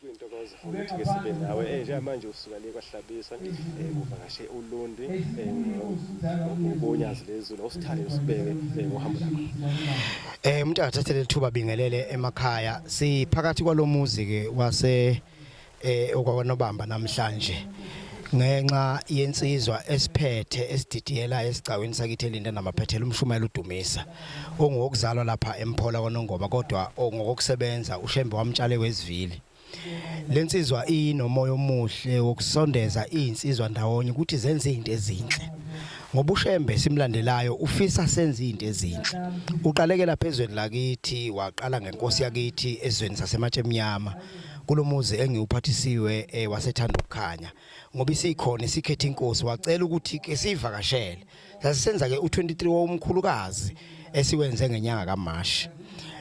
kuyintokozo ukuthi ke sibe nawe eh, njengamanje usuka le kwahlabisa eh, kuvakashe ulundi ubonyazi eh, lezulu osithande usibeke ngohambo lakho Eh umuntu akathathe lethuba bingelele emakhaya siphakathi kwalomuzi ke wase eh okwanobamba namhlanje ngenxa yensizwa esiphethe esididiyela esigcawini sakithi elinda namaphethela umshumayela udumisa ongokuzalwa lapha emphola kwanongoma kodwa ongokusebenza ushembe wamtshale wezivili lensizwa inomoya omuhle wokusondeza izinsizwa ndawonye ukuthi zenze izinto ezinhle ngoba ushembe simlandelayo ufisa senze izinto ezinhle uqalekela phezweni lakithi waqala ngenkosi yakithi ezweni sasematshe emnyama kulomuzi engiwuphathisiwe eh, wasethanda ukukhanya ngoba isikhona sikhethe inkosi wacela ukuthi ke sivakashele sasisenza ke u23 wawumkhulukazi esiwenze ngenyanga kaMashi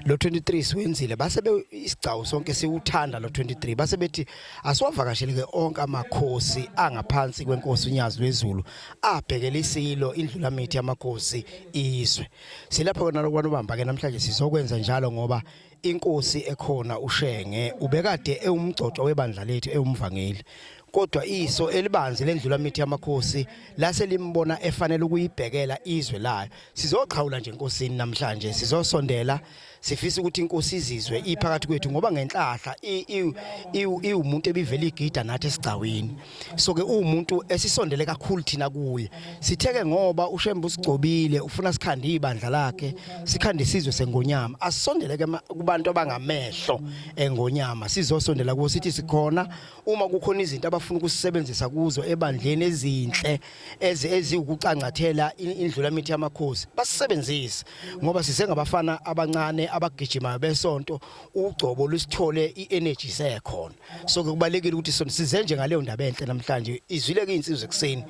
lo 23 siwenzile base isigcawu sonke siwuthanda lo 23 base bethi asiwavakashele ke onke amakhosi angaphansi kwenkosi unyazi lwezulu abhekele isilo indlula mithi yamakhosi izwe silapha kona lokwanobamba ke namhlanje sizokwenza njalo ngoba inkosi ekhona uShenge ubekade ewumgcotshwa webandla lethu ewumvangeli kodwa iso elibanzi lendlula mithi yamakhosi lase limbona efanele ukuyibhekela izwe layo sizoqhawula nje enkosini namhlanje sizosondela sifisa ukuthi inkosi izizwe iphakathi kwethu ngoba ngenhlahla iwumuntu ebivela igida nathi esigcawini so ke uwumuntu esisondele kakhulu thina kuye sitheke ngoba ushembe usigcobile ufuna sikhande ibandla lakhe sikhande sizwe sengonyama asisondele ke kubantu abangamehlo engonyama sizosondela kuwo sithi sikhona uma kukhona izinto abafuna ukusebenzisa kuzo ebandleni ezinhle eziwukucangathela indlula mithi yamakhosi basisebenzise ngoba sisengabafana abancane abagijimayo besonto ugcobo lusithole i-energy sekhona so kubalekile ukuthi sona size nje ngaleyo ndaba enhle namhlanje izwile ke insizwe ekseni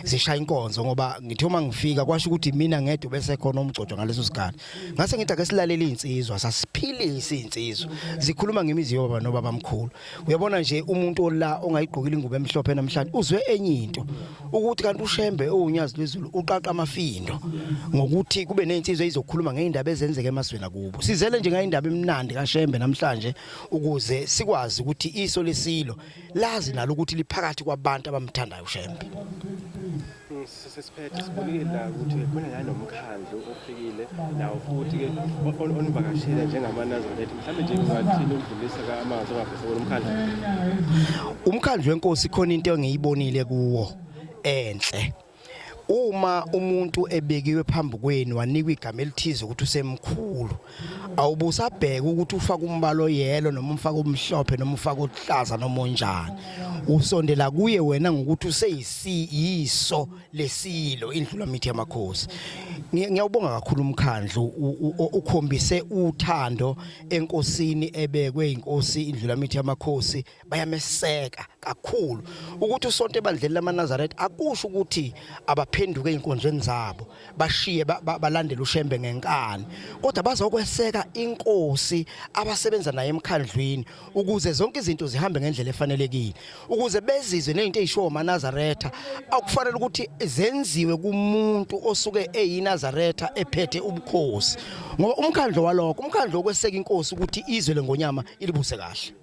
zishaya inkonzo ngoba ngithe uma ngifika kwasho ukuthi mina ngedwa bese khona umgcotshwa ngaleso sikhathi ngase ngithi ake silalele insizwa sasiphilise insizwa zikhuluma ngemizi yoba nobaba mkhulu uyabona nje umuntu ola ongayigqokile ingubo emhlophe namhlanje uzwe enye into ukuthi kanti ushembe owunyazi lwezulu uqaqa amafindo ngokuthi kube nezinsizwa izokhuluma ngeindaba ezenzeka emazweni akubo sizele nje ngayindaba emnandi kashembe namhlanje ukuze sikwazi ukuthi iso lesilo lazi nalo ukuthi liphakathi kwabantu abamthandayo uShembe sesiphethe sibonile la ukuthi khona la nomkhandlu ofikile nawo futhi ke onivakashile njengamanazini ethi mhlawumbe nje kungathini ukudlulisa kamanzi ongavese kulo mkhandlu umkhandlu wenkosi khona into engiyibonile kuwo enhle uma umuntu ebekiwe phambi kwenu wanikwa igama elithize ukuthi usemkhulu awubusabheke ukuthi ufaka umbalo yelo noma umfaka omhlophe noma ufaka oluhlaza noma onjani usondela kuye wena ngokuthi useyisiyiso lesilo indlula mithi yamakhosi ngiyawubonga kakhulu umkhandlu ukhombise uthando enkosini ebekwe inkosi indlula mithi yamakhosi bayameseka kakhulu ukuthi usonto ebandleni lamaNazaretha akusho ukuthi abaphenduke inkonzweni zabo bashiye balandela uShembe ngenkani kodwa bazokweseka inkosi abasebenza naye emkhandlwini ukuze zonke izinto zihambe ngendlela efanelekile ukuze bezizwe nezinto ezishiwo amaNazaretha akufanele ukuthi zenziwe kumuntu osuke eyiNazaretha ephethe ubukhosi ngoba umkhandlo walokho umkhandlo okweseka inkosi ukuthi izwe lengonyama ilibuse kahle